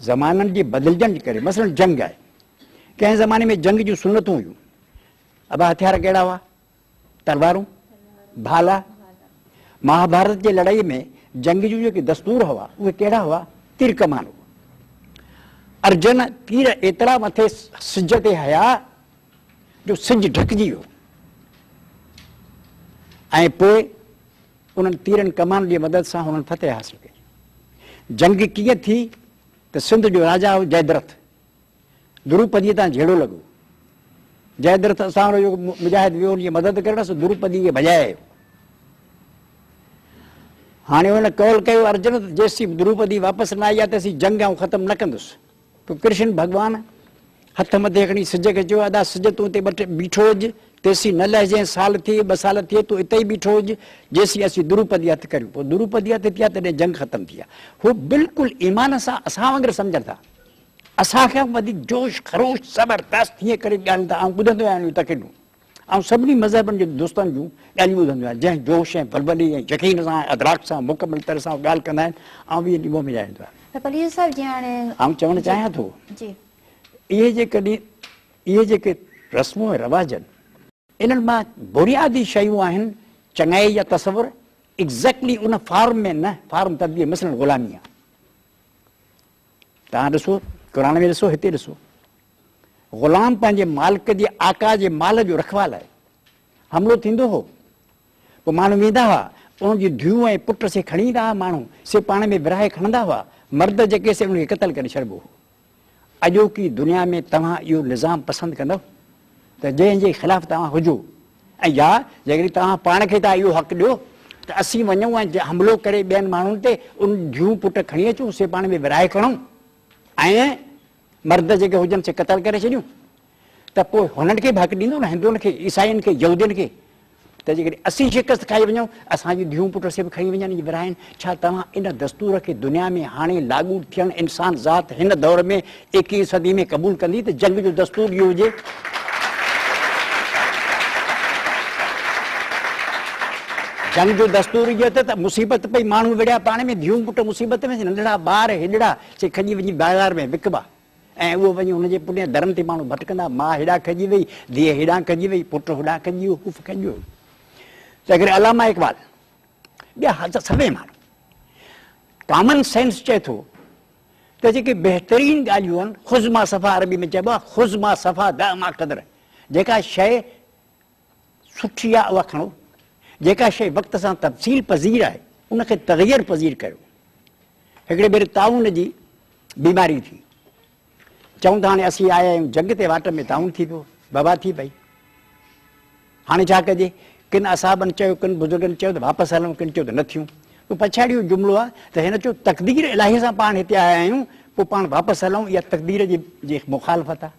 زمانن جي بدلجڻ جي ڪري مثلاً جنگ آهي. ڪنهن زماني ۾ جنگ جون سنتون هيون. ابا هٿيار ڪهڙا هئا؟ تلوارون، ڀالا. مهاڀارت جي لڙائيء ۾ جنگ جون جيڪي دستور هئا، اهي ڪهڙا هئا؟ تير ڪمان هئا. ارجن تير ايترا مٿي سج تي هنيا جو سج ڍڪجي ويو ۽ پوء انهن تيرن ڪمانن جي مدد سان هنن فتح حاصل ڪئي. جنگ ڪيئن ٿي ته سنڌ جو راجا هو جئدرٿ. دروپديء تان جهيڙو لڳو. جئدرٿ اسان وٽ هو جو مجاهد ويو ان جي مدد ڪرڻ، سو دروپديء کي ڀڄائي آيو. هاڻي هن قول ڪيو ارجن ته جيسين دروپدي واپس نه آئي آهي تيسين جنگ آئون ختم نه ڪندس. پوء ڪرشن ڀڳوان هٿ مٿي کڻي سج کي چيو، ادا سج تون اتي بيٺو هج، تيسين نه لهجين، سال ٿئي، ٻه سال ٿئي، تون اتي ئي بيٺو هج، جيسين اسين دروپدي هٿ ڪريون. پوء دروپدي هٿ ٿيا تڏهن جنگ ختم ٿي آهي. هو بلڪل ايمان سان اسان وانگر سمجهن ٿا. اسان کان به وڌيڪ جوش خروش زبردست هيئن ڪري ڳالهين ٿا. آئون ٻڌندو آهيان انهيون تقريرون. آئون سڀني مذهبن جي دوستن جون ڳالهيون ٻڌندو آهيان، جنهن جوش ۽ بلبلي ۽ يقين سان ۽ ادراڪ سان مڪمل طرح سان اهي ڳالهه ڪندا آهن، آئون اهي ڏينهن ۾ رهندو آهيان. ته پليجو صاحب جي هاڻي آئون چوڻ چاهيان ٿو جي جي اهي جيڪڏهن اهي جيڪي رسمون ۽ رواجن انهن مان بنيادي شيون آهن چڱائي جا تصور ايگزيڪٽلي ان فارم ۾ نه فارم تبديلي مثلاً غلامي آهي. تان ڏسو، قرآن ۾ ڏسو، هتي ڏسو. غلام پنهنجي مالڪ جي آقا جي مال جو رکوال آهي. حملو ٿيندو هو. پوء ماڻهو ويندا هئا، ان جي ڌيء ۽ پٽ سي کڻي ايندا هئا ماڻهو سي پاڻ ۾ ورهائي کڻندا هئا، مرد جيڪي سي ان کي قتل ڪري ڇڏبو هو. اڄوڪي دنيا ۾ توهان اهو نظام پسند ڪندؤ ته جنهن جي خلاف توهان هجو. ۽ يا جيڪڏهن توهان پاڻ کي ٿا اهو حق ڏيو ته اسين وڃون ۽ حملو ڪري ٻين ماڻهن تي ان جون پٽ کڻي اچون، سي پاڻ ۾ ورهائي کڻون ۽ مرد جيڪي هجن سي قتل ڪري ڇڏيون ته پوء هنن کي به حق ڏيندو نه هندوئن کي، عيسائين کي، يهودين کي ته جيڪڏهن اسين شڪست کائي وڃون. اسان جون ڌيئون پٽ سڀ کڻي وڃن جي ورهائين، ڇا توهان ان دستور کي دنيا ۾ هاڻي لاڳو ٿيڻ انسان ذات هن دور ۾ ايڪيهين صدي ۾ قبول ڪندي ته جنگ جو دستور اهو هجي؟ جنگ جو دستور اهو ته ته مصيبت پئي ماڻهو وڙهيا پاڻ ۾ ڌيئون پٽ مصيبت ۾ ننڍڙا ٻار هيڏڙا سي کڄي وڃي بازار ۾ وڪبا. ۽ اهو وڃي ان جي پٺيان درن تي ماڻهو ڀٽڪندا، ماء هيڏانهن کڄي وئي، ڌيء هيڏانهن کڄي وئي، پٽ هوڏانهن کڄي ويو، هو کڄي ويو. تنهن ڪري علامه اقبال ٻيا هاضا سڀئي ماڻهو ڪامن سينس چئي ٿو ته جيڪي بهترين ڳالهيون آهن خذ ما صفا عربي ۾ چئبو آهي خذ ما صفا دع ما قدر جيڪا شيء سٺي آهي اها کڻو. جيڪا شيء وقت سان تبصيل پذير آهي ان کي تغير پذير ڪريو. هڪڙي ڀيري طاعون جي بيماري ٿي. چئون ته هاڻي اسين آيا آهيون جنگ تي واٽ ۾ طاعون ٿي پيو، وبا ٿي پئي. هاڻي ڇا ڪجي؟ ڪن اصحابن چيو، ڪن بزرگن چيو ته واپس هلون، ڪن چيو ته نه ٿيون. پوء پڇاڙي اهو جملو آهي ته هن چيو تقدير الاهي سان پاڻ هتي آيا آهيون، پوء پاڻ واپس هلون اها تقدير جي مخالفت آهي.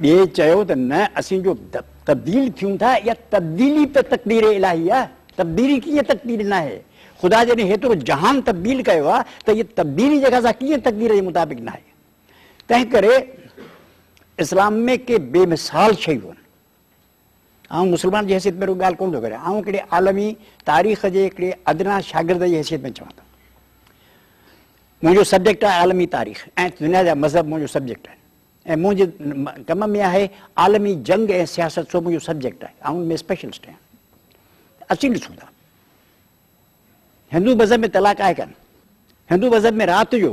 ٻئي چيو ته نه اسين جو تبديل ٿيون ٿا اها تبديلي ته تقدير الاهي آهي، تبديلي ڪيئن تقدير نه آهي؟ خدا جڏهن هيترو جهان تبديل ڪيو آهي ته اها تبديلي جيڪا سا ڪيئن تقدير جي مطابق نه آهي؟ تنهن ڪري اسلام ۾ ڪي بي مثال شيون آهن. آئون مسلمان جي حيثيت ۾ رڳو ڳالهه ڪونه ٿو ڪريان، آئون هڪڙي عالمي تاريخ جي هڪڙي ادنيٰ شاگرد جي حيثيت ۾ چوان ٿو. منهنجو سبجيڪٽ آهي عالمي تاريخ ۽ دنيا جا مذهب منهنجو سبجيڪٽ آهن ۽ منهنجي ڪم ۾ آهي عالمي جنگ ۽ سياست سو منهنجو سبجيڪٽ آهي، آئون ان ۾ اسپيشلسٽ آهيان. اچي ڏسون ٿا. هندو مذهب ۾ طلاق آهي ڪانه. هندو مذهب ۾ رات جو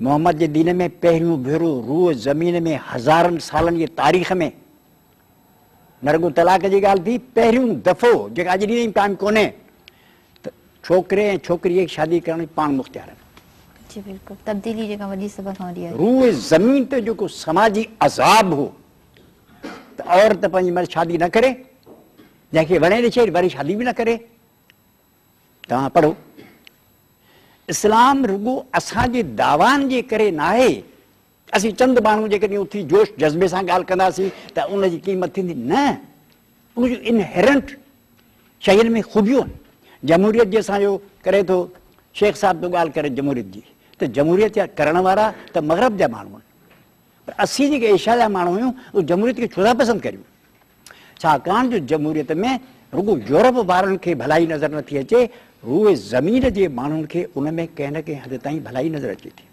محمد جي دين ۾ پهريون ڀيرو روء زمين ۾ هزارن سالن جي تاريخ ۾ نه رڳو طلاق جي ڳالهه ٿي، پهريون دفعو جيڪا اڄ ڏينهن قائم ڪونهي ته ڇوڪري ۽ ڇوڪري جي شادي ڪرڻ جي پاڻ مختيار آهن. جي بلڪل تبديلي جيڪا وڏي سڀ کان وڏي آهي. روء زمين تي جيڪو سماجي عذاب هو ته عورت پنهنجي مڙس شادي نه ڪري جنهن کي وڻي ڏسي وري شادي به نه ڪري. توهان پڙهو، اسلام رڳو اسان جي دعوائن جي ڪري ناهي، اسين چند ماڻهو جيڪڏهن اٿي جوش جذبي سان ڳالهه ڪنداسين ته ان جي قيمت ٿيندي، نه ان جون انهيرنٽ شين ۾ خوبيون آهن، جمهوريت جي اسان جو ڪري ٿو شيخ صاحب ٿو ڳالهه ڪري جمهوريت جي ته جمهوريت جا ڪرڻ وارا ته مغرب جا ماڻهو آهن پر اسين جيڪي ايشيا جا ماڻهو آهيون اهي جمهوريت کي ڇو ٿا پسند ڪريون؟ ڇاڪاڻ جو جمهوريت ۾ رڳو يورپ وارن کي ڀلائي نظر نه ٿي اچي، روئي زمين جي ماڻهن کي ان ۾ ڪنهن نه ڪنهن حد تائين ڀلائي نظر اچي ٿي.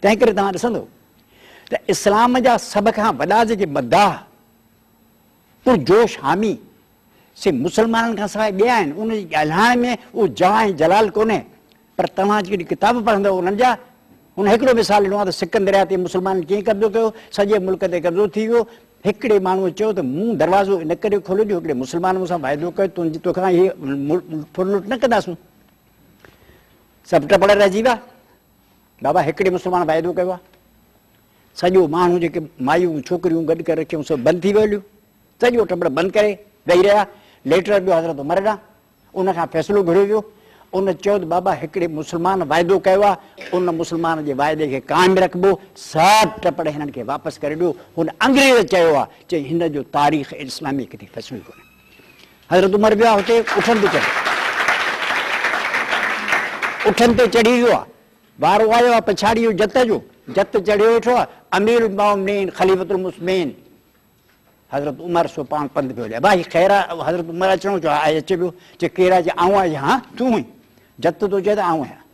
تنهن ڪري توهان ڏسندو ته اسلام جا سڀ کان وڏا جيڪي مداح، پرجوش حامي، سي مسلمانن کان سواء ٻيا آهن، انهن جي ڳالهائڻ ۾ اهو جاه ۽ جلال ڪونهي، پر توهان جيڪي ڪتاب پڙهندؤ انهن جا هن هڪڙو مثال ڏنو آهي ته سڪن درياهه تي مسلمانن ڪيئن قبضو ڪيو، سڄي ملڪ تي قبضو ٿي ويو، هڪڙي ماڻهوء چيو ته مون دروازو ان ڪري کوليو جو هڪڙي مسلمان مون سان واعدو ڪيو ته تنهنجي توکان هي ملڪ ڦر لٽ نه ڪنداسون. سڀ ٽپڙ رهجي ويا بابا هڪڙي مسلمان واعدو ڪيو آهي سڄو ماڻهو جيڪي مايون ڇوڪريون گڏ ڪري رکيون سڀ بند ٿي ويو هليو سڄو ٽپڙ بند ڪري ويهي رهيا ليٽر ڏيو حضرت عمر ڏانهن ان کان فيصلو گهريو ويو. ان چيو ته بابا هڪڙي مسلمان واعدو ڪيو آهي، ان مسلمان جي واعدي کي قائم رکبو، ساهه ٽپڙ هنن کي واپس ڪري ڏيو. هن انگريز چيو آهي، چيائين هن جو تاريخ اسلامي ڪٿي فصلو ئي ڪونهي. حضرت عمر ويو آهي اتي اٺن تي چڙهي. اٺن تي چڙهي ويو آهي. وارو آيو آهي پڇاڙيء جو جت جو، جت چڙهي ويٺو آهي. اميرالمؤمنين خليفة المسلمين حضرت عمر سو پاڻ پنڌ پيو هلي. ڀائي خير آ؟ حضرت عمر اچڻو چاهي، آء اچي پيو، چي ڪير آهي؟ چي آئون آهيان، ها تون هئين؟ جت تو چئين ته آئون آهيان.